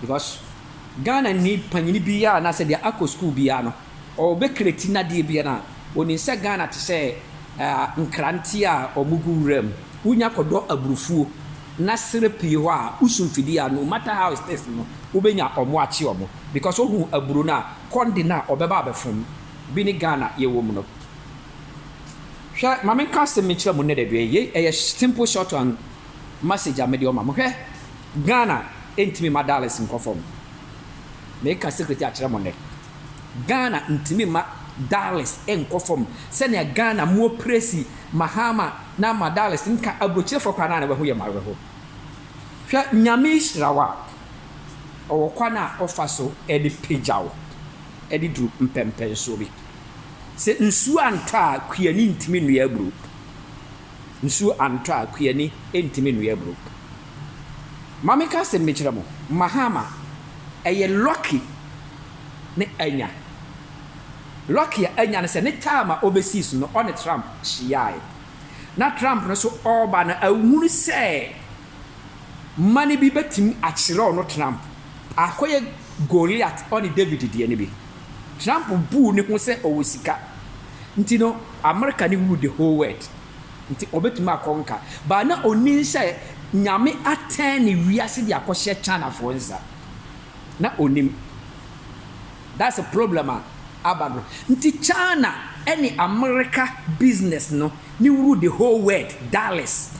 Because Ghana ni panyin biara anaasɛ deɛ akɔ sukuu biara no ɔbɛkreti nadeɛ biara no a, ɔnim sɛ Ghana te sɛ nkrante a wɔgu wura mu. Wonya kɔdɔ aburufuo na serɛ pue hɔ a, wosu mfidie a, no matter how it is no, wobɛnya wɔn akye wɔn. Because wohu aburo no a, kɔnde no a wɔbɛba abɛfom bi ne Ghana yɛwɔ mu no. Hwɛ, ma menka asɛm bi nkyerɛ mo nnɛ da bi, yei ɛyɛ simple short and. message a mede ɔma mo hwɛ Ghana ntimi ma dollars nkɔ fam meka secret yi akyerɛ mo nnɛ Ghana ntimi ma dollars nkɔ fam sɛnea Ghana mo opresi Mahama na ama dollars nka aburokyerefo kwan a na wɛho yɛ mawerɛho hwɛ Nyame hyira wo a ɔwɔ kwan a ɔfa so de pagya wo de duru mpɛmpɛnsoɔ bi sɛ nsuo antɔ a kuani ntimi nnua aburo Nsu antɔ a, kuani ntumi nnoa aburo. Ma menka asɛm bi nkyerɛ mo, Mahama, ɛyɛ lucky ne anya. Lucky a anya ne sɛ ne term a ɔbɛsii so no, ɔne Trump hyiaae. Na Trump no nso ɔreba no, ahunu sɛ. mma no bi bɛtumi akyerɛw no Trump akɔyɛ Goliat ɔne David deɛ no bi. Trump buu ne ho sɛ ɔwɔ sika nti no Amerika ne rule the whole world nti ɔbɛtumi akɔ nka but na ɔnim sɛ Nyame atɛn ne wiase de akɔhyɛ Chinafoɔ nsa na ɔnim that's a problem a aba no nti China ne Amerika business no ne rule the whole world dollars.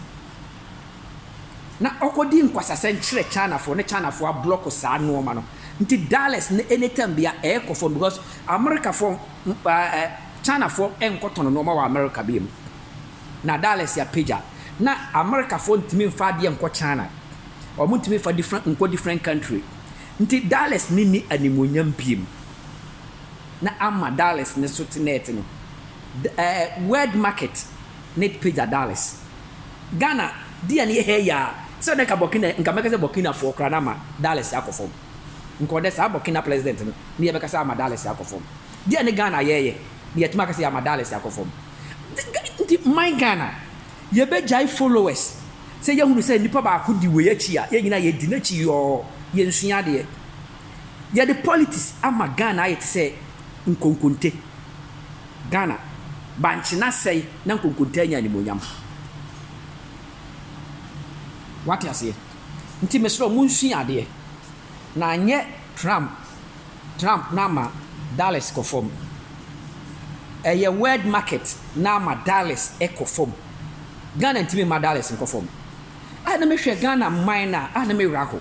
na ɔkɔdii nkwasasɛm kyerɛ Chinafoɔ na Chinafoɔ ablɔko saa nnoɔma no nti dollars no anytime biara ɛɛkɔ fam because Amerikafoɔ ɛɛ Chinafoɔ ɛnkɔtɔn nnoɔma wɔ Amerika bio mu na dollars apagya na Amerikafoɔ ntumi mfa adeɛ nkɔ China wɔn ntumi mfa different nkɔ different country nti dollars no nni animuonyam bio mu na ama dollars no so te na ɛte no ɛɛ world market na ɛpagya dollars. Ghana deɛ no yɛ hɛ yaa sɛ nɛ nka Burkina nka mɛka sɛ Burkina foɔ koraa na ama Dallas akɔ fam nka ɔdɛ saa Burkina President no ne yɛbɛka sɛ ama Dallas akɔ fam deɛ ne Ghana yɛɛyɛ ne yɛtumi aka sɛ yɛama Dallas akɔ fam nti man Ghana yɛbɛgyae followers sɛ yɛhunu sɛ nipa baako di wei akyi a yɛn nyinaa yɛdi n'akyi yɔɔ yɛnsua adeɛ yɛde politics ama Ghana ayɛ te sɛ nkonkonte. Ghana, bankye no asɛe na nkonkontaa anya animuonyam. Wate aseɛ? Nti mesrɛ wo, monsua adeɛ, na anyɛ Trump, Trump na ama Dallas kɔ fam. Ɛyɛ world market na ama Dallas kɔ fam. Ghana ntumi mma Dallas nkɔ fam. A na mehwɛ Ghana man no a, a na me werɛ ahow.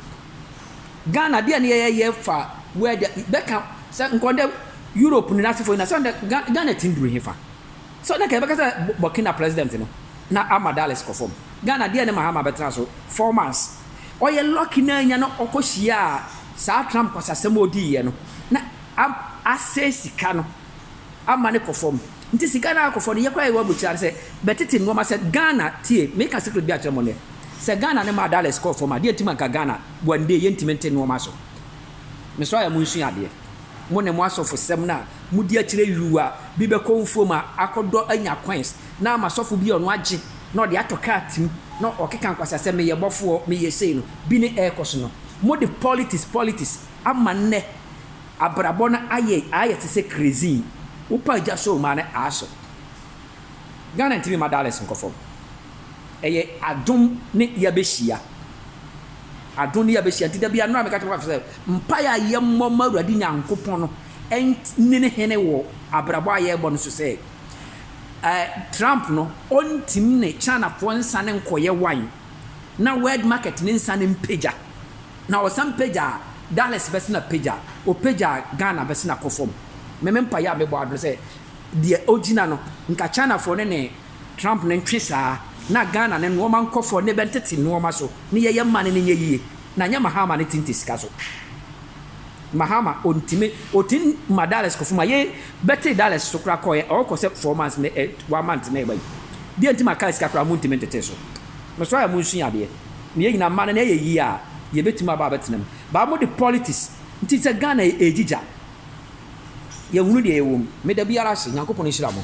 Ghana deɛ ne yɛyɛ yɛ fa word a bɛka sɛ nka ɔdɛ Europe no n'asefo nyina sɛ ɔdɛ Ga Ghana tim duru hefa? Sɛ ɔdɛ nka yɛbɛka sɛ Bɔ Burkina president no na ama Dallas kɔ fam. Ghana deɛ ne Mahama bɛtena so four months. Ɔyɛ lucky na anya no ɔkɔ hyiaa saa Trump kwasasɛm a ɔdiiɛ no na a asɛe sika no ama no kɔ fam. Nti sika no ara kɔ fam no, yɛ koraa a yɛwɔ aburokyire ha no sɛ bɛtete nnoɔma sɛ Ghana, tie, meka secret bi akyerɛ mo nnɛ, sɛ Ghana no maa dollars kɔɔ fam a, deɛ nti ma nka Ghana one day yɛntumi nte nnoɔma so. Mesrɛ yɛ monsua adeɛ. Mo ne mo asɔfosɛm no a modi akyerɛ yuu a, bi bɛkɔ mfuo mu a, akɔdɔ anya coins na ama sɔfo bi a ɔno agye na ɔde atɔ kaa tim na ɔkeka nkwasasɛm, meyɛ bɔfoɔ, meyɛ sei no, bi ne ɛrekɔ so no. Mode politics, politics ama nnɛ. Abrabɔ no ayɛ ayɛ te sɛ krezin wopa agya sɔɔ mu a na aso Ghana ntumi mma Dallas nkɔ fam ɛyɛ adom ne yɛabɛhyia adom ne yɛabɛhyia nti da bia nnora meka kyerɛ sɛ mpaeɛ a yɛmmɔ ma Awurade Nyankopɔn no ɛnne hene wɔ abrabɔ a yɛrebɔ no so sɛ eh, Trump no ɔntim ne Chinafoɔ nsa ne nkɔyɛ wan na world market ne nsa ne mpagya Na ɔsan pagyaa Dallas bɛse na pagya, ɔpagyaa Ghana bɛse na kɔ fam. Me me mpaeɛ a mebɔ ara ne sɛ deɛ ɔgyina no nka Chinafoɔ no ne Trump no ntwe saa na Ghana no nnoɔma nkɔ fam ne bɛntete nnoɔma so ne yɛyɛ mma no no nyɛ yie na nyɛ Mahama no tinte sika so. Mahama ɔntimi ɔtim ma Dallas kɔ fam a yei bɛtee Dallas so koraa kɔeɛ a ɔkɔ sɛ four months ne one month na ɛba yi. Deɛ nti ma car sika koraa montimi ntetee so? Mesɔre a monsua adeɛ. na yɛn nyinaa mma no na ɛyɛ yie a, yɛbɛtumi aba abɛtena mu. But mode politics nti sɛ Ghana ɛregyigya, yɛhunu deɛ ɛwɔ mu. Meda biara ase, Nyankopɔn nhyira mo.